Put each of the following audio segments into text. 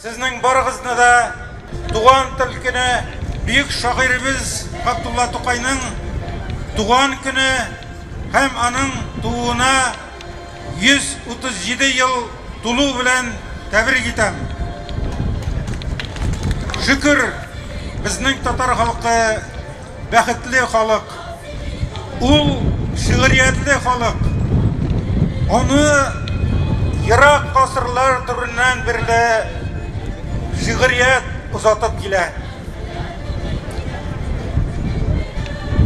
Сезнең барыгызны да Туган тел көне, бөек шагыйребез Габдулла Тукайның туган көне һәм аның тууына 137 ел тулу белән тәбрик итәм. Шөкер, безнең татар халкы бәхетле халык, ул шигъриятле халык. Аны ерак гасырлар дәвереннән бирле шигърият озатып килә.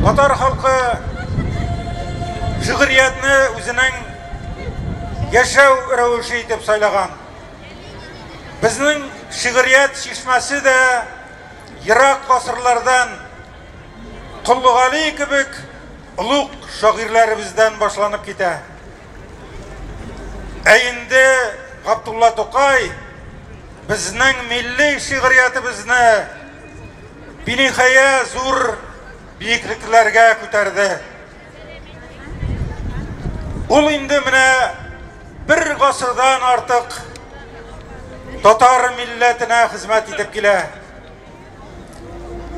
Татар халкы шигъриятне үзенең яшәү рәвеше итеп сайлаган. Безнең шигърият чишмәсе дә ерак гасырлардан Коллы Гали кебек олуг шагыйрьләребездән башланып китә. Ә инде Габдулла Тукай безнең милли шигъриятебезне биниһая зур биеклекләргә күтәрде. Ул инде менә бер гасырдан артык татар милләтенә хезмәт итеп килә.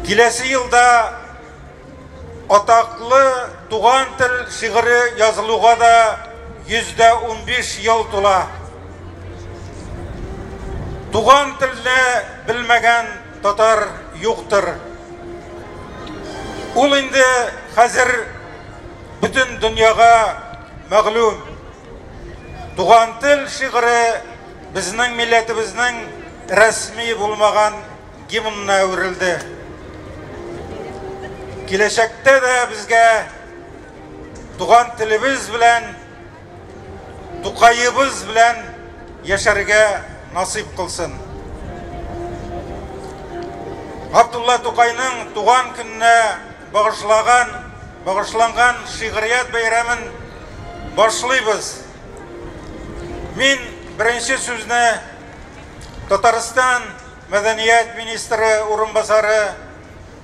Киләсе елда атаклы туган тел шигыре язылуга да 115 ел тула. Туган телне белмәгән Татар юктыр. Ул инде хәзер бөтен дөньяга мәгълүм. Туган тел шигыре безнең милләтебезнең рәсми булмаган гимнына әверелде. Киләчәктә дә безгә туган телебез белән Тукаебыз белән яшәргә насыйп кылсын. Габдулла Тукайның туган көненә багышлаган, багышланган шигърият бәйрәмен башлыйбыз. Мин беренче сүзне Татарстан мәдәният министры урынбасары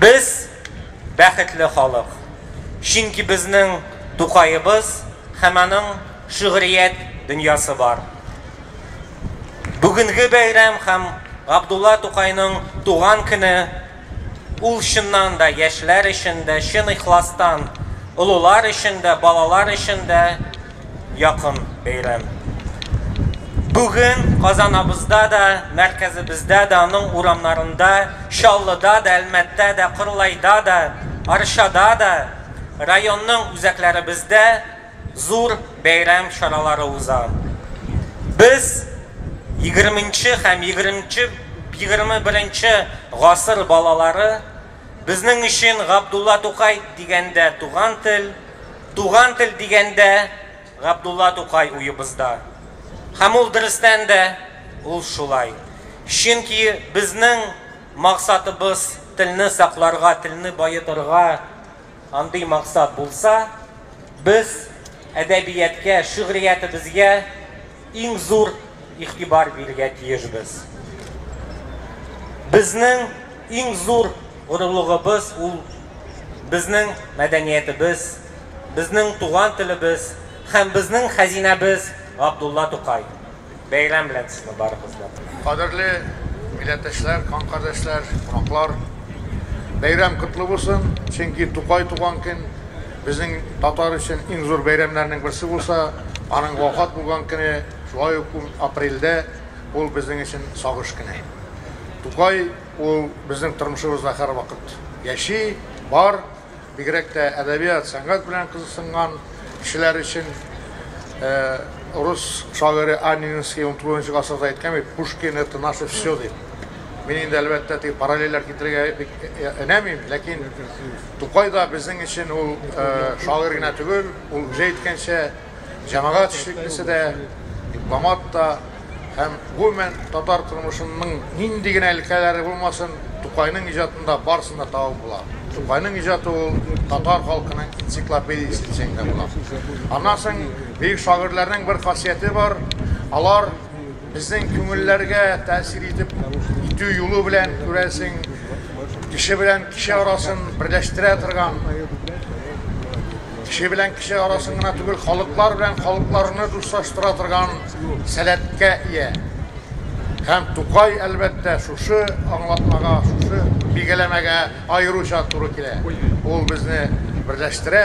Без, бәхетле халык, чөнки безнең Тукаебыз һәм аның шигърият дөньясы бар. Бүгенге бәйрәм һәм Габдулла Тукайның туган көне ул чыннан да яшьләр өчен дә, чын ихластан олылар өчен дә, балалар өчен дә якын бәйрәм. Бүген Казанабызда да, мәркәзебездә дә, аның урамнарында, Чаллыда да, Әлмәттә дә, Кырлайда да, Арчада да, районның үзәкләребездә зур бәйрәм чаралары уза. Без егерменче һәм егерменче, егерме беренче гасыр балалары, безнең өчен Габдулла Тукай дигәндә туган тел, Туган тел дигәндә, Габдулла Тукай уебызда. Һәм ул дөрестән дә ул шулай. Чөнки безнең максатыбыз телне сакларга, телне баетырга. Андый максат булса, без әдәбияткә, шигъриятебезгә, Иң зур игътибар бирергә тиешбез. Безнең иң зур горурлыгыбыз ул безнең мәдәниятебез, безнең туган телебез һәм безнең хәзинәбез Габдулла Тукай. Бәйрәм белән сезне барыбызны! Кадерле милләттәшләр, кан кардәшләр, кунаклар! Бәйрәм котлы булсын, чөнки Тукай туган көн. Безнең татар өчен иң зур бәйрәмнәрнең берсе булса, аның вафат булган көне, шулай ук ун апрельдә, ул безнең өчен сагыш көне. Тукай, ул безнең тормышыбызда һәрвакыт яши, бар. Бигрәк тә әдәбият, сәнгать белән кызыксынган кешеләр өчен рус шагыйре Анненский унтугызынчы гасырда әйткән бит, Пушкин, это наше всё, дип. Мин инде, әлбәттә, теге параллельләр китерергә бик өнәмим, ләкин. Тукай да безнең өчен ул шагыйрь генә түгел, ул үзе әйткәнчә, җәмәгать эшлеклесе дә, дипломат та һәм гомумән татар тормышының нинди генә өлкәләре булмасын, Тукайның иҗатында барысын да табып була. Тукайның иҗаты ул татар халкының энциклопедиясе дисәң дә була. Аннан соң бөек шагыйрьләрнең бер хасияте бар, алар Безнең күңелләргә тәэсир итеп итү юлы белән, күрәсең, кеше белән кеше арасын берләштерә торган, кеше белән кеше арасын гына түгел, халыклар белән халыкларны дуслаштыра торган сәләткә ия. Һәм Тукай, әлбәттә, шушы аңлатмага, шушы билгеләмәгә аеруча туры килә. Ул безне берләштерә.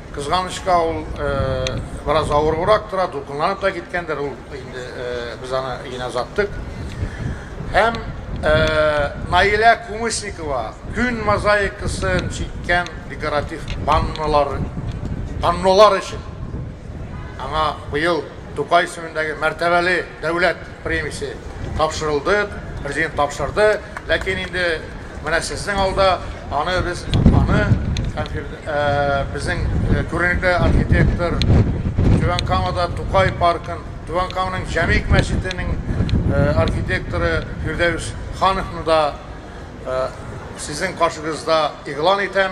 Кызганычка, ул бераз авырыбрак тора, дулкынланып та киткәндер, ул инде без аны генә озаттык. Һәм Наилә Кумысникова күн мозаикасын чиккән декоратив паннолар, паннолар өчен аңа быел Тукай исемендәге мәртәбәле дәүләт премиясе тапшырылды, президент тапшырды. Ләкин инде Менә сезнең алда аны без аны безнең күренекле архитектор Түбән Камада Тукай паркын, Түбән Каманың Җәмик мәчетенең архитекторы Фирдәвис Хановны да сезнең каршыгызда игълан итәм.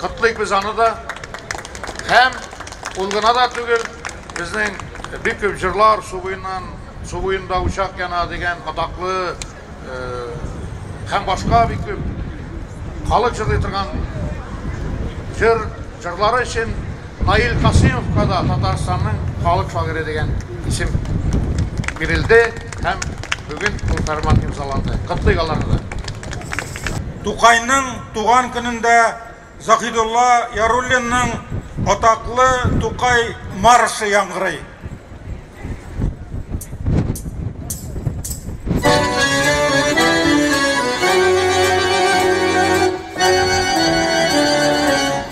Котлыйк без аны да. Һәм ул гына да түгел, безнең бик күп җырлар су буеннан, су буенда учак яна дигән атаклы һәм башка бик күп халык җырлый торган җыр җырлары өчен Наил Касыймовка да Татарстанның халык шагыйре дигән исем бирелде һәм бүген ул фәрман имзаланды. Котлыйк аларны да. Тукайның Туган көнендә Заһидулла Яруллинның атаклы Тукай маршы яңгырый.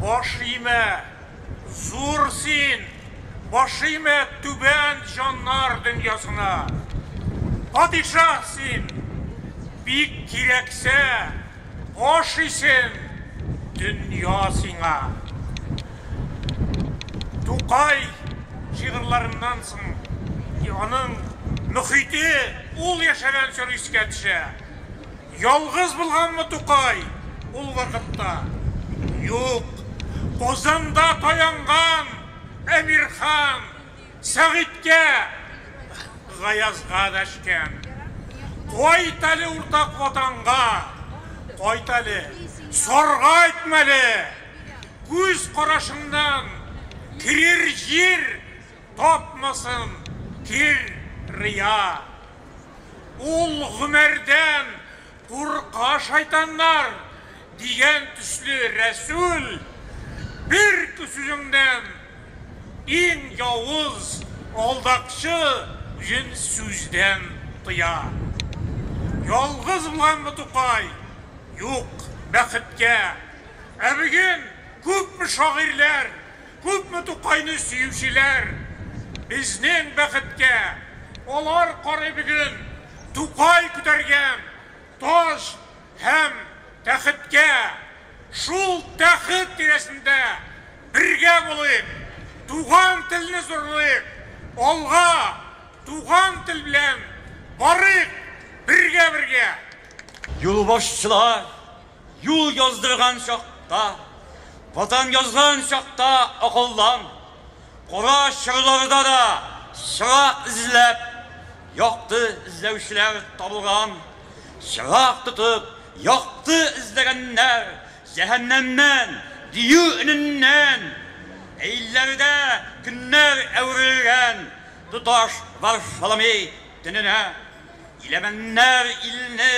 Баш имә, зур син, баш имә түбән җаннар дөньясына. Падишаһ син, бик кирәксә, баш исен, дөнья сиңа. Тукай шигырьларыннан соң аның мөхите, ул яшәгән чор искә төшә. Ялгыз булганмы Тукай ул вакытта? Юк, Казанда таянган Әмирхан, Сәгыйтькә, Гаязга дәшкән. Кайт әле уртак Ватанга, кайт әле, сарга әйтмәле, күз карашыңнан керер җир! Тапмасын кир рия. Ул Гомәрдән курка шайтаннар, дигән төсле Рәсүл бер сүзеңнән иң явыз алдакчы үзен сүздән тыя. Ялгыз булганмы Тукай? Юк, бәхеткә. Ә бүген күпме шагыйрьләр. Күпме Тукайны сөючеләр, безнең бәхеткә, алар карый бүген Тукай күтәргән таш һәм тәхеткә. Шул тәхет тирәсендә бергә булыйк, туган телне зурлыйк, алга, туган тел белән барыйк бергә-бергә! Юлбашчылар Юл яздырган чакта, Ватан язган чакта акылдан, Кара чорларда да чыра эзләп, Якты эзләүчеләр табылган. Чырак тотып, якты эзләгәннәр, Җәһәннәмнән, дию өненнән. Әйлләрдә көннәр әверелгән Тоташ Варфоломей төненә. Иләмәннәр илне.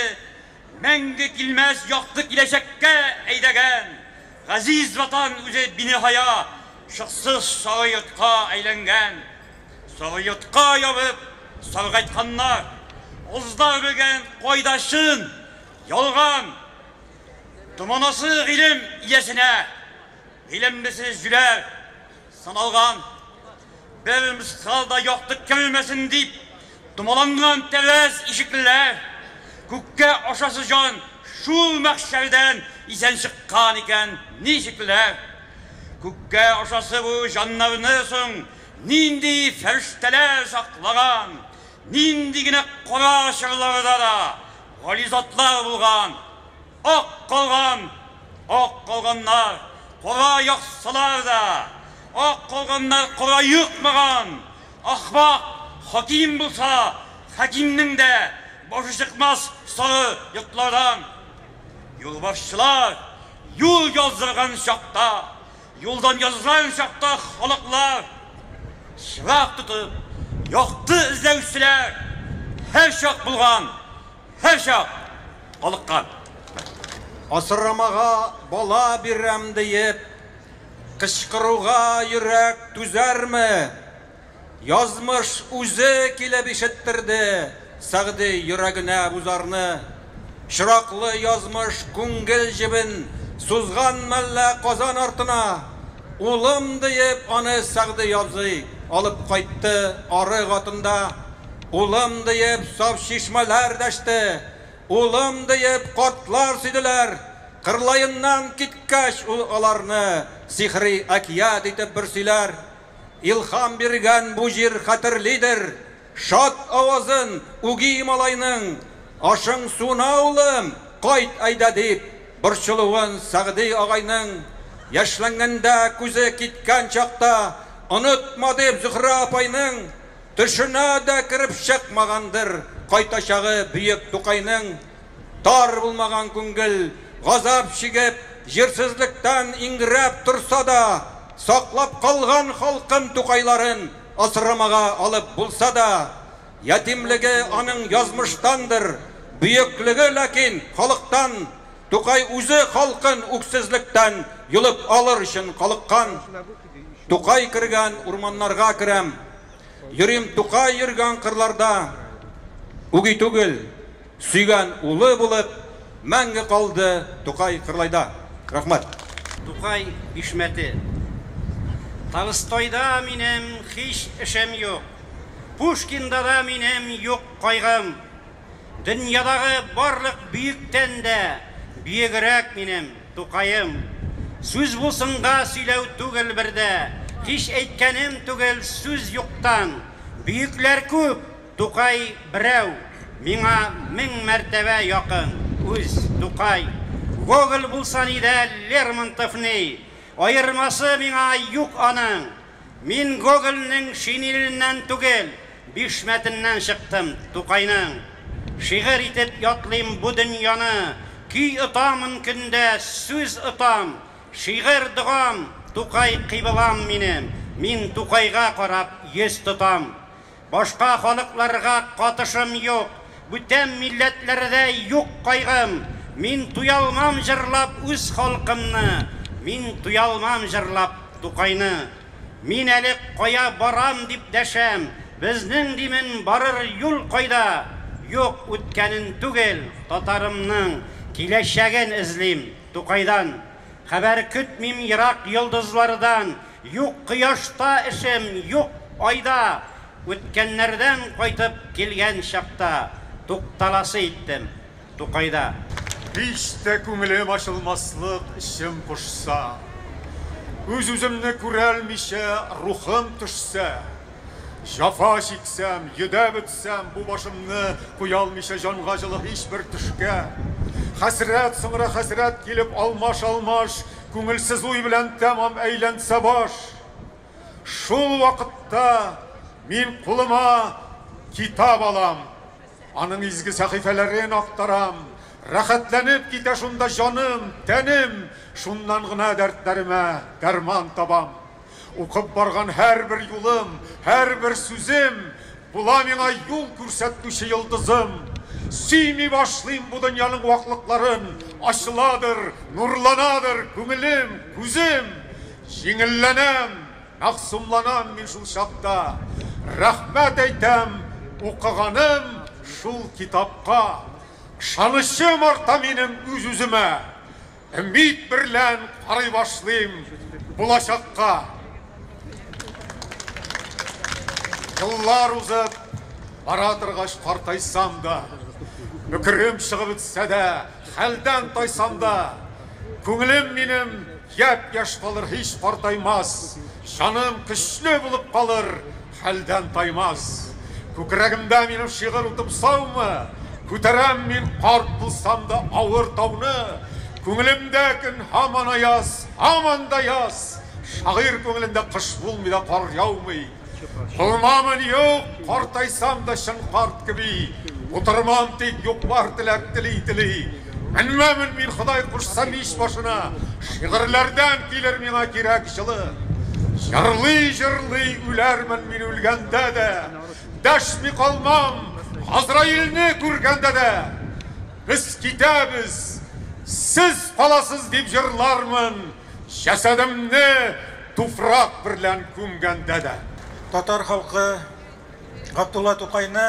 Мәңге килмәс якты киләчәккә әйдәгән газиз Ватан үзе биниһая шыксыз сары йортка әйләнгән. Сары йортка ябып саргайтканнар, азда өрелгән кайда чын, ялган, томанасы гыйлем иясенә, гыйлемлесе җүләр. Саналган, бер мскал да яктык кермәсен дип, томаланган тәрәз ишеклеләр, күккә ашасы җан шул мәхшәрдән исән чыккан икән, ничекләр? Күккә ашасы бу җаннарны соң нинди фәрештәләр саклаган, нинди генә кара чорларда да гали затлар булган? Ак калган, ак калганнар, кора яксылар да, ак калганнар кора йокмаган, ахмак хаким булса, хакимнең дә башы чыкмас соры йотлардан. Юлбашчылар юл яздырган чакта, юлдан язган чакта халыклар чырак тотып, якты эзләүчеләр һәрчак булган. һәрчак калыккан. Асрамага бала бирәм диеп кычкыруга йөрәк түзәрме? Язмыш үзе килеп ишеттерде Сәгъди йөрәгенә бу зарны. Чираклы язмыш күңел җебен сузган мәллә Казан артына, улым диеп, аны Сәгъди абзый алып кайтты арык атында. Улым, диеп, саф чишмәләр дәште. Улым, диеп, картлар сөйделәр. Кырлаеннан киткәч, ул аларны сихри әкият итеп бер сөйләр. Илһам биргән бу җир хәтерлидер шат авазын үги малайның, Ашың-суына, улым, кайт әйдә, дип борчылуын Сәгъди агайның, Яшьләнгәндә күзе киткән чакта, Онытма, дип, Зөһрә апайның, Төшенә дә кереп чыкмагандыр кайтачагы бөек Тукайның, Тар булмаган күңел, газап чигеп, җирсезлектән иңрәп торса да, саклап калган халкын Тукайларын асрамага алып булса да, ятимлеге аның язмыштандыр, бөеклеге ләкин халыктан, Тукай үзе халкын үксезлектән йолып алыр өчен калыккан. Тукай кергән урманнарга керәм, йөрим Тукай йөргән кырларда. Үги түгел, сөйгән улы булып, мәңге калды Тукай Кырлайда. Рәхмәт. Тукай бишмәте. Толстойда минем һич эшем юк, Пушкиндада минем юк кайгым. Дөньядагы барлык бөектән дә биегрәк минем Тукаем. Сүз булсынга сөйләү түгел бер дә, һич әйткәнем түгел сүз юктан. Бөекләр күп, Тукай берәү, миңа мең мәртәбә якын, үз, Тукай. Гоголь булса ни дә Лермонтов ни, аермасы миңа юк аның. Мин Гогольнең шинеленнән түгел, бишмәтеннән чыктым, Тукайның. Шигырь итеп ятлыйм бу дөньяны, Көй отамын көндә, сүз отам, Шигырь догам, Тукай кыйблам минем, Мин Тукайга карап йөз тотам. Башка халыкларга катышым юк, бүтән милләтләрдә юк кайгым, Мин туялмам җырлап үз халкымны, Мин туялмам җырлап Тукайны. Мин әле кая барам дип дәшәм, Безнең димен барыр юл кайда? Юк, үткәнен түгел, татарымның Киләчәген эзлим Тукайдан. Хәбәр көтмим ерак йолдызлардан, Юк кояшта эшем, юк айда. Үткәннәрдән кайтып килгән чакта. Тукталасы иттем Тукайда. Һич тә күңелем ачылмаслык эчем пошса. Үз-үземне күрәлмичә рухым төшсә. Җафа чиксәм, йөдәп үтсәм, бу башымны куялмыйча җанга җылы һичбер төшкә. Хәсрәт, соңра хәсрәт килеп алмаш-алмаш Күңелсез уй белән тәмам әйләнсә баш, шул вакытта мин кулыма китап алам, аның изге сәхифәләрен актарам, рәхәтләнеп китә шунда җаным, тәнем, шуннан гына дәртләремә дәрман табам. Укып барган һәрбер юлым, һәрбер сүзем Була миңа юл күрсәтүче йолдызым. Сөйми башлыйм бу дөньяның ваклыкларын, Ачыладыр, нурланадыр күңелем, күзем. Җиңелләнәм, мәгъсумланам мин шул чакта, Рәхмәт әйтәм укыганым шул китапка. Ышанычым арта минем үз-үземә. Өмид берлән карый башлыйм булачакка. Еллар узып бара торгач картайсам да, бөкрем чыгып бетсә дә, хәлдән тайсам да, күңелем минем япь-яшь калыр, һич картаймас, җаным көчле булып калыр. Хәлдән таймас. Күкрәгемдә минем шигырь утым саумы? Күтәрәм мин карт булсам да авыр тауны. Күңелемдә көн һаман аяз, һаман да яз. Шагыйрь күңелендә кыш булмый да кар яумый. Булмамын, юк, картайсам да чын карт кеби. Утырмам тик, юк-бар теләк тели-тели. Менмәмен мин, Ходай кушса, мич башына, Шигырьләрдән килер миңа кирәк җылы. Җырлый-җырлый үләрмен мин үлгәндә дә, Дәшми калмам, Газраилне күргәндә дә. Без китәбез, сез каласыз, дип җырлармын, Җәсәдемне туфрак берлән күмгәндә дә. Татар халкы Габдулла Тукайны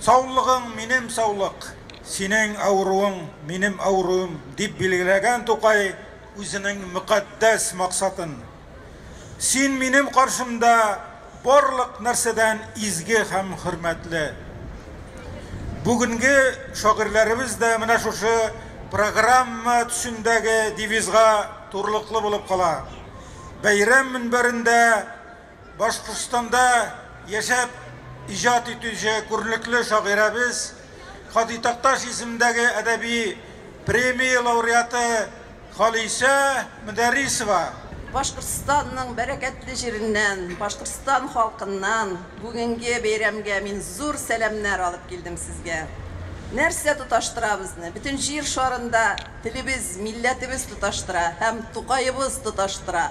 Саулыгың, минем саулык, синең авыруың, минем авыруым, дип билгеләгән Тукай үзенең мөкатдәс максатын. Син минем каршымда барлык нәрсәдән изге һәм хөрмәтле. Бүгенге шагыйрьләребез дә менә шушы программа төсендәге девизга турлыклы булып кала. Бәйрәм мөнбәрендә Башкортстанда яшәп иҗат итүче күренекле шагыйрәбез, Һади Такташ исемендәге әдәби премия лауреаты Халисә Мөдәррисова. Башкортстанның бәрәкәтле җиреннән, Башкортстан халкыннан бүгенге бәйрәмгә мин зур сәламнәр алып килдем сезгә. Нәрсә тоташтыра безне? Бөтен җир шарында телебез, милләтебез тоташтыра һәм Тукаебыз тоташтыра.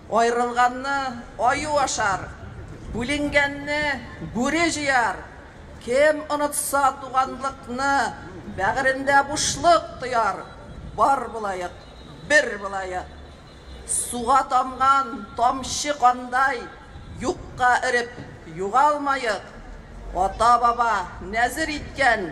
Аерылганны аю ашар, бүленгәнне бүре җыяр. Кем онытса туганлыкны, бәгырендә бушлык тояр. Бар булаек, бер булаек. Суга тамган тамчы кандай, юкка эреп югалмаек. Ата-баба нәзер иткән.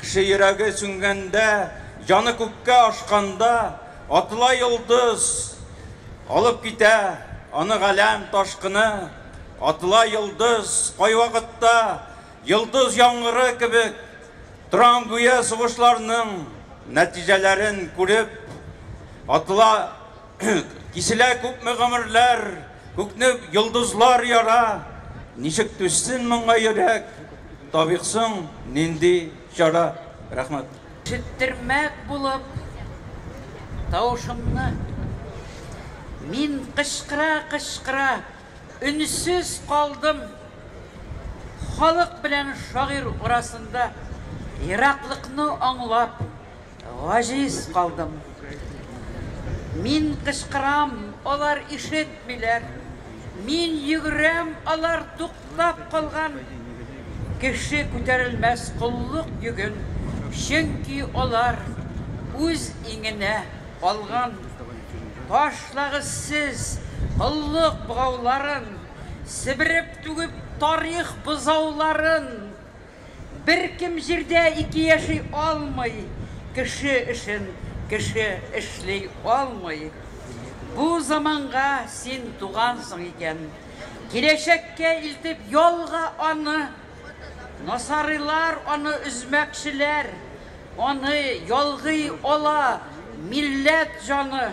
Кеше йөрәге сүнгәндә, җаны күккә ашканда, атыла йолдыз, алып китә аны галәм ташкыны. Атыла йолдыз, кайвакытта йолдыз яңгыры кебек торам, гүя сугышларның нәтиҗәләрен күреп атыла. Киселә күпме гомерләр, Күкне йолдызлар яра. Ничек түзсен моңа йөрәк, Табиксың нинди чара? Рәхмәт. Четтермәк булып тавышымны Мин кычкыра-кычкыра Өнсез калдым Халык белән шагыйрь арасында Ераклыкны аңлап Гаҗиз калдым. Мин кычкырам, алар ишетмиләр. Мин йөгерәм, алар туктап калган. Кеше күтәрелмәс коллык йөген, чөнки алар үз иңенә калган. Ташлагыз сез коллык богауларын, себереп-түгеп тарих бозауларын! Беркем җирдә ике яши алмый, Кеше эшен кеше эшли алмый. Бу заманга син тугансың икән, Киләчәккә илтеп ялга аны. Насарыйлар аны өзмәкчеләр, Аны ялгый ала милләт җаны.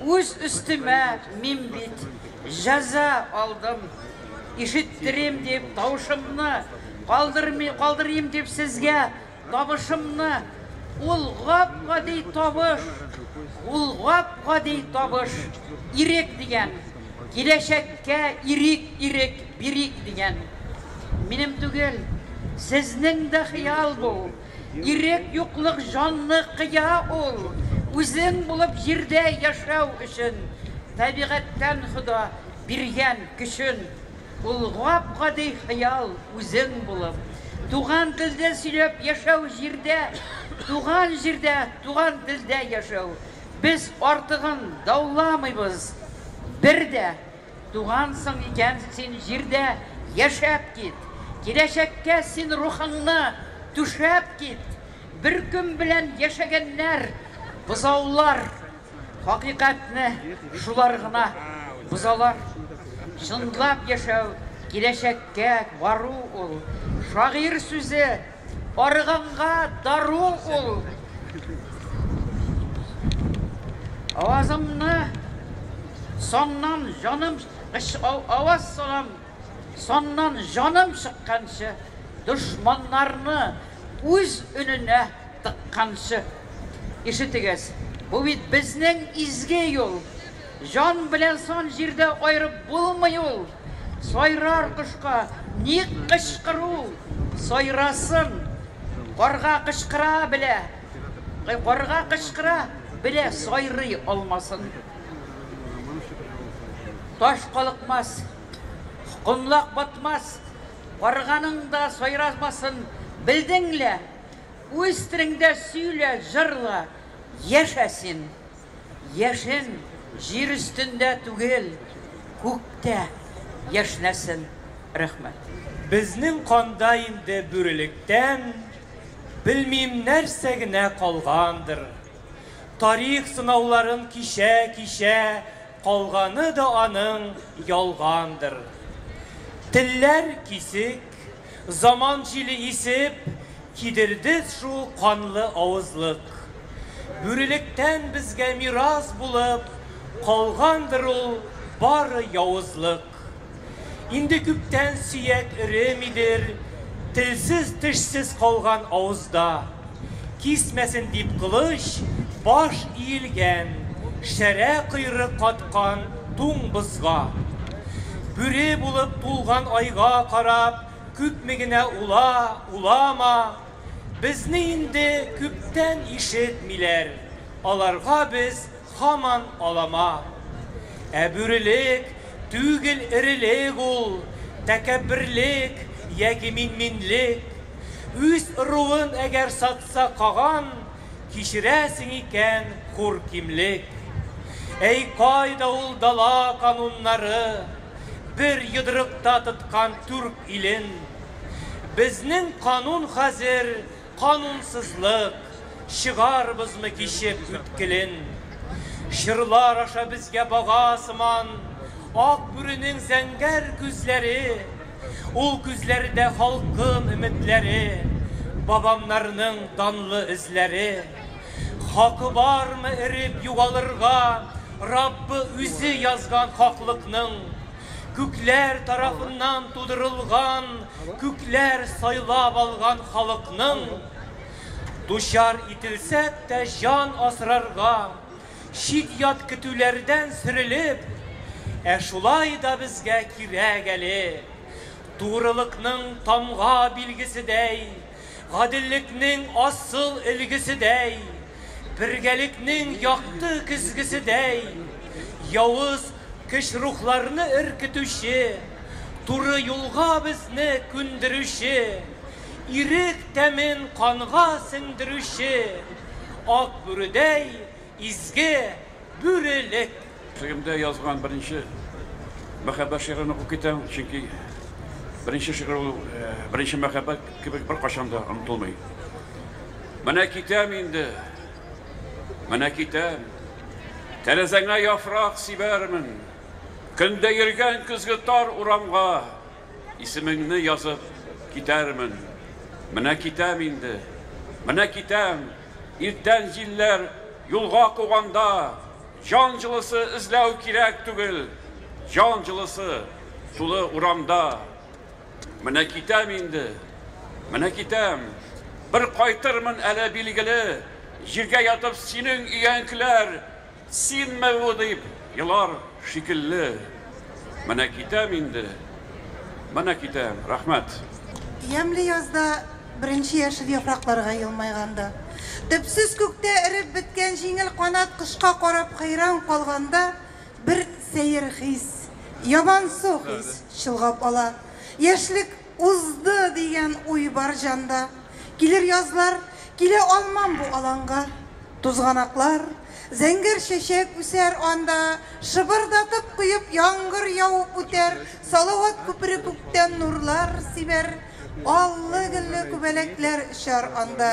Үз өстемә мин бит җәза алдым. Ишеттерим дип тавышымны, калдырыйм дип сезгә табышымны. Ул гап-гади табыш, ул гап-гади табыш, Ирек дигән, киләчәккә ирек, ирек бирик дигән. Минем түгел, сезнең дә хыял бу. Ирек юклык җанны кыя ул, үзең булып җирдә яшәү өчен табигатьтән Хода биргән көчен ул гап-гади хыял үзең булып, туган телдә сөйләп яшәү җирдә, туган җирдә, туган телдә яшәү, без артыгын дауламыйбыз, бер дә Тугансың икән син җирдә, яшәп кит! Киләчәккә син рухыңны түшәп кит! Бөркем белән яшәгәннәр, бозаулар, хакыйкатьне шулар гына бозалар. Чынлап яшәү, киләчәккә бару ул. Шагыйрь сүзе. Арыганга дару ул. Авазымны соннан җаным Аваз салам соннан җаным чыкканчы, дошманнарны үз өненә тыкканчы. Ишетегез, бу бит безнең изге юл. Җан белән сон җирдә аерып булмый ул. Сайрар кошка ник кычкыру? Сайрасын! Карга кычкыра белә, карга кычкыра белә сайрый алмасын. Таш калыкмас, комлак батмас, карганың да сайрамасын белдең лә, үз телеңдә сөйлә, җырла, яшә син! Яшен җир өстендә түгел, күктә яшнәсен! Рәхмәт. Безнең канда инде бүрелектән белмим нәрсә генә калгандыр. Тарих сынауларын кичә-кичә калганы да аның ялгандыр. Телләр кисек. Заман җиле исеп, кидердез шул канлы авызлык. Бүрелектән безгә мирас булып калгандыр ул бары явызлык. Инде күптән сөяк эремидер, телсез-тешсез калган авызда. Кисмәсен дип кылыч, баш иелгән, шәрә койрык каткан туң бозга. Бүре булып тулган айга карап, күпме генә ула, улама, безне инде күптән ишетмиләр, аларга без Һаман алама. Ә бүрелек түгел эрелек ул, тәкәбберлек яки минминлек. Үз ыруын әгәр сатса каган, кичерәсең икән хур кимлек. Әй кайда ул дала кануннары, бер йодрыкта тоткан түрк илен. Безнең канун хәзер Канунсызлык, чыгарбызмы кичеп үткелен. Чорлар аша безгә бага сыман Ак бүренең зәңгәр күзләре. Ул күзләрдә халкым өметләре, Бабамнарның данлы эзләре. Хакы бармы эреп югалырга, Раббы үзе язган хаклыкның? Күкләр тарафыннан тудырылган, күкләр сайлап алган халыкның дучар ителсәк тә җан асрарга, чит-ят көтүләрдән сөрелеп, ә шулай да безгә кирәк әле, турылыкның тамга билгеседәй, Гаделлекнең асыл өлгеседәй, бергәлекнең якты көзгеседәй, явыз көч рухларны өркетүче, туры юлга безне күндерүче, ирек тәмен канга сеңдерүче, ак бүредәй изге Бүрелек! Төзегемдә язган беренче мәхәббәт шигырен укып китәм, чөнки беренче шигырь ул беренче мәхәббәт кебек беркайчан да онытылмый. Менә китәм инде, менә китәм, тәрәзәңә яфрак сибәрмен, көндә йөргән көзге тар урамга исемеңне язып китәрмен. Менә китәм инде, менә китәм, иртән җилләр юлга куганда, Җан җылысы эзләү кирәк түгел, җан җылысы тулы урамда. Менә китәм инде, менә китәм. Бер кайтырмын әле, билгеле. Җиргә ятып синең өянкеләр, Синме бу дип елар шикелле. Менә китәм инде, менә китәм. Рәхмәт. Ямьле язда Беренче яшел яфракларга елмайганда. Төпсез күктә эреп беткән җиңел канат кошка карап хәйран калганда бер сәер хис, ябансу хис чолгап ала. Яшьлек узды дигән уй бар җанда. Килер язлар, килә алмам бу аланга. Тузганаклар, зәңгәр чәчәк үсәр анда. Шыбырдатып коеп яңгыр явып үтәр. Салават күпере күктән нурлар сибәр. Аллы-гөлле күбәләкләр очар анда.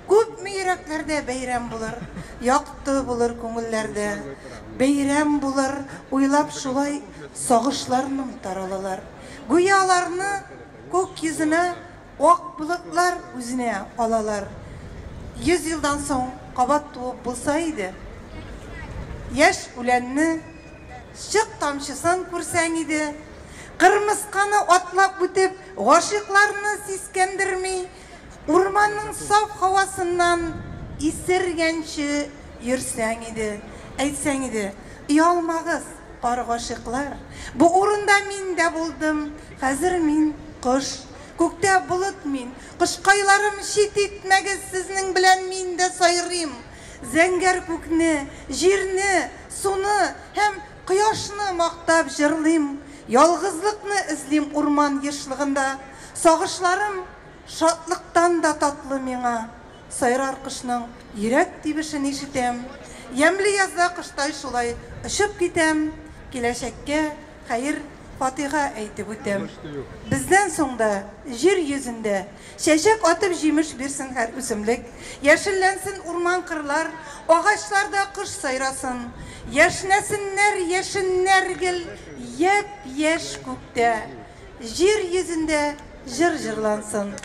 Күпме йөрәкләрдә бәйрәм булыр. Якты булыр күңелләрдә бәйрәм булыр. Уйлап шулай сагышларным таралалар. Гүя аларны күк йөзенә ак болытлар үзенә алалар. Йөз елдан соң кабат туып булса иде. Яшь үләнне. Чык тамчысын күрсәң иде. Кырмысканы атлап үтеп, гашыйкларны сискәндерми, урманның саф һавасыннан исергәнче йөрсәң иде. Әйтсәң иде, Оялмагыз, пар гашыйклар, бу урында мин дә булдым, хәзер мин, кош, күктә болыт мин, кошкайларым, чит итмәгез, сезнең белән мин дә сайрыйм, зәңгәр күкне, җирне, Суны һәм кояшны мактап җырлыйм, Ялгызлыкны эзлим урман ешлыгында. Сагышларым шатлыктан да татлы миңа, Сайрар кошның йөрәк тибешен ишетәм. Ямьле язда коштай шулай очып китәм, Киләчәккә Хәер, Фатыйга әйтеп үтәм. Бездән соң да җир йөзендә чәчәк атып җимеш бирсен һәр үсемлек, яшелләнсен урман-кырлар, агачларда кош сайрасын, яшьнәсеннәр яшеннәр гел япь-яшь күктә, җир йөзендә җыр җырлансын,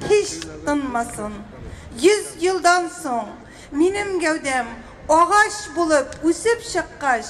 һич тынмасын. Йөз елдан соң минем гәүдәм агач булып үсеп чыккач,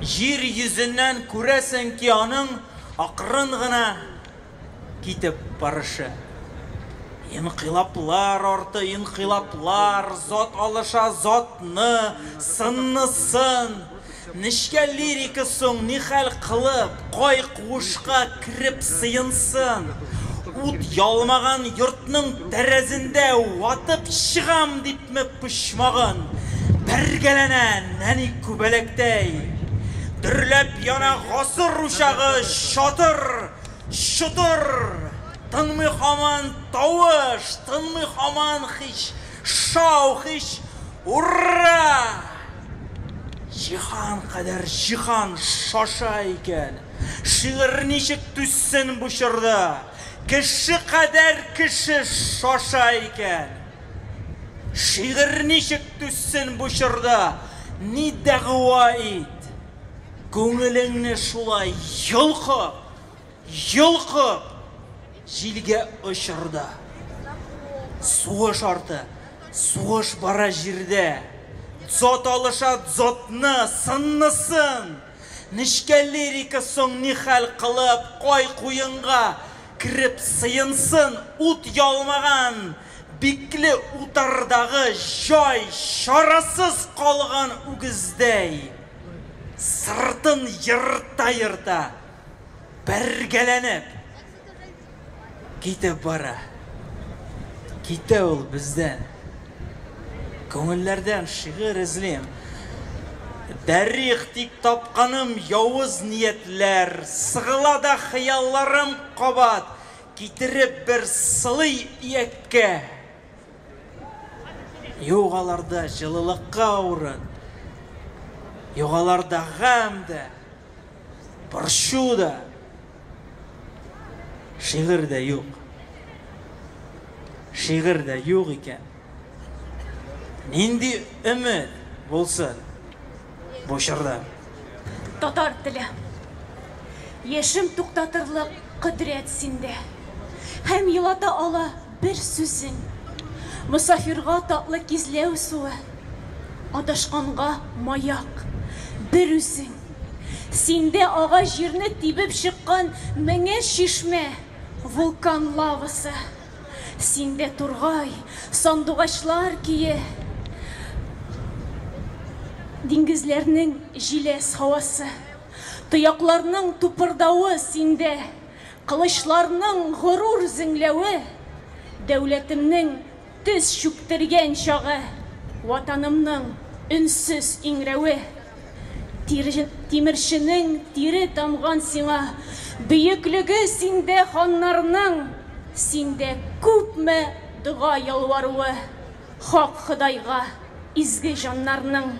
Җир йөзеннән күрәсең ки аның акрын гына китеп барышы. Инкыйлаплар арты инкыйлаплар, зат алыша затны, сынны сын. Нечкә лирика соң нихәл кылып, кай куышка кереп сыенсын? Ут ялмаган йортның тәрәзендә ватып чыгам дип Күпме почмагын бәргәләнә нәни күбәләктәй, Дөрләп яна гасыр учагы чатыр, чотыр. Тынмый хаман тавыш, тынмый хаман хич, шау, хич, ур-ра! Җиһан кадәр җиһан шаша икән, шигырь ничек түзсен бу чорда? Кеше кадәр кеше шаша икән. Шигырь ничек түзсен бу чорда, Ни дәгъва ит, күңелеңне шулай йолкып, йолкып, Җилгә очыр да. Сугыш арты, сугыш бара җирдә, Дзот алыша дзотны, сыннысын! Нечкә лирика соң нихәл кылып, Кай куенга Кереп сыенсын ут яумаган бикле утардагы җай чарасыз калган үгездәй, сыртын ерта-ерта, бәргәләнеп китеп бара. Китә ул бездән. Күңелләрдән шигырь эзлим. Дарих, тик тапканым явыз ниятләр, Сыгыла да хыялларым кабат, Китереп бер сылый ияккә. Юк аларда җылылыкка урын, Юк аларда гамь дә. Борчу да, шигырь дә юк. Шигырь дә юк икән. Нинди өмет булсын бу чорда? Татар теле. Яшем туктатырлык кодрәт синдә. Һәм елата ала. бер сүзең. Мосафирга татлы кизләү суы, Адашканга маяк, бер үзең. Синдә ага җирне тибеп чыккан Меңәр чишмә, вулкан лавасы. Синдә тургай, сандугачлар көе, Диңгезләрнең җиләс һавасы. Тоякларның тупырдавы синдә, Кылычларның горур зеңләве, Дәүләтемнең тез чүктергән чагы, Ватанымның өнсез иңрәве. Тир, тимерченең тире тамган сиңа, Бөеклеге синдә ханнарның, Синдә күпме дога ялваруы, Хак Ходайга изге җаннарның.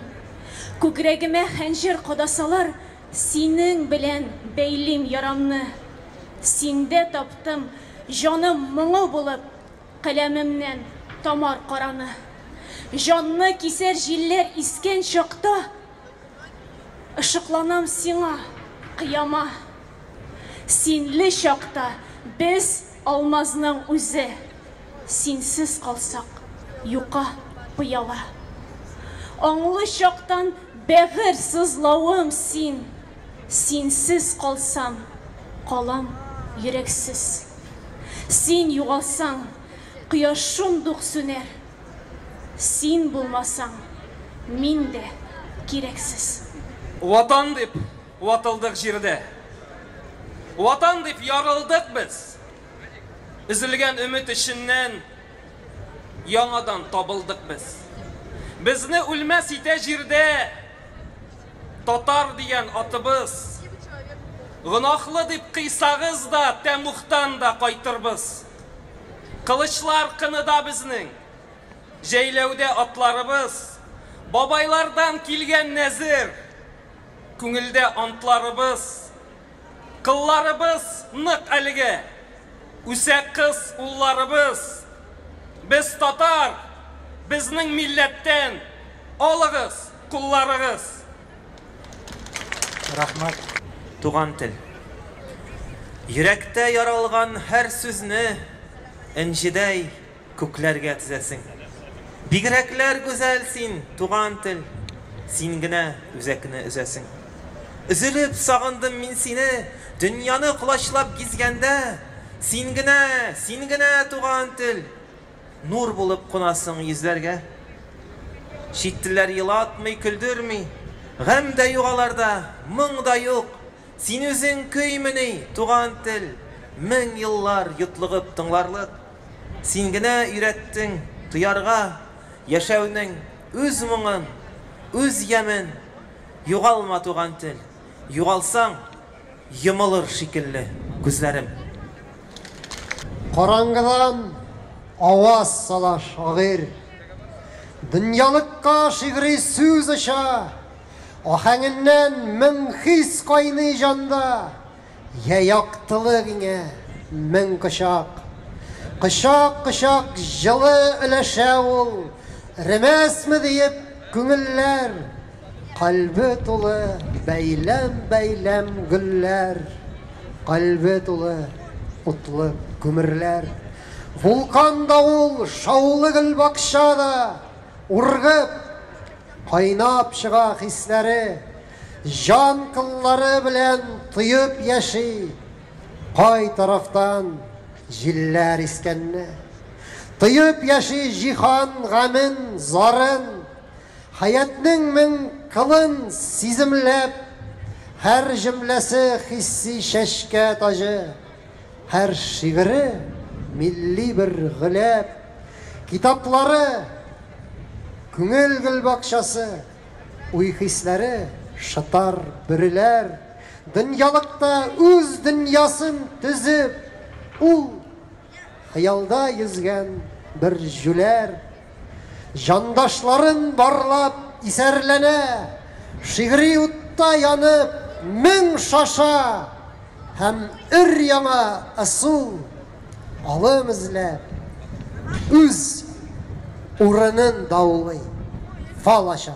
Күкрәгемә хәнҗер кадасалар. Синең белән бәйлим ярамны, Синдә таптым җаным моңы булып, Каләмемнән тамар караны. Җанны кисәр җилләр искән чакта, Ышыкланам сиңа, кыяма. Синле чакта без. Алмазның үзе, синсез калсак, юка пыяла. Аңлы чактан бәгырь сызлавым син, синсез калсам, калам йөрәксез. Син югалсаң, кояш шундук сүнәр, син булмасаң, мин дә кирәксез. Ватан дип, Ватылдык җирдә. Ватан дип ярылдык без. Өзелгән өмет эченнән яңадан табылдык без. Безне үлмәс итә җирдә татар дигән атыбыз. Гөнаһлы дип кыйсагыз да, тәмугтан да кайтырбыз. Кылычлар кыныда безнең, җәйләүдә атларыбыз. Бабайлардан килгән нәзер. Күңелдә антларыбыз, кылларыбыз нык әлеге. Үсә кыз улларыбыз. Без татар, безнең милләттән, алыгыз кулларыгыз. Рәхмәт, туган тел. Йөрәктә яралган һәр сүзне энҗедәй. Күкләргә тезәсең. Бигрәкләр гүзәл син, туган тел, Син генә үзәкне өзәсең. Өзелеп сагындым мин сине, Дөньяны колачлап гизгәндә, Син генә, син генә, туган тел, Нур булып кунасың йөзләргә. Чит телләр елатмый, көлдерми, Гамь дә юк аларда, моң да юк, Син үзең көймени, туган тел, Мең еллар йотлыгып тыңларлык. Син генә өйрәттең тоярга яшәүнең үз моңын, үз ямен Югалма туган тел, югалсаң, йомылыр шикелле күзләрем. Караңгыдан аваз сала шагыйрь. Дөньялыкка шигъри сүз оча, Аһәңеннән мең хис кайный җанда. Йә яктылык иңә, мең кочак. Кочак, кочак җылы өләшә ул, Эремәсме диеп күңелләр. Кальбе тулы бәйләм-бәйләм гөлләр, Кальбе тулы утлы күмерләр. Вулкан да ул, шаулы гөлбакча да, Ургып, кайнап чыга хисләре. Җан кыллары белән тоеп яши. Кай тарафтан җилләр искәнне. Тоеп яши җиһан гамен, зарын. Хәятнең мең кылын сиземләп. Һәр җөмләсе хисси чәчкә таҗы. Һәр шигыре милли бер гөләп. Китаплары, күңел гөлбакчасы. Уй-хисләре шытар, бөреләр. Дөньялыкта үз дөньясын төзеп, ул Хыялда йөзгән бер җүләр. Җандашларын барлап исәрләнә, Шигъри утта янып, мең шаша Һәм өр-яңа ысул. Алым эзләп, үз урынын даулый, фал ача.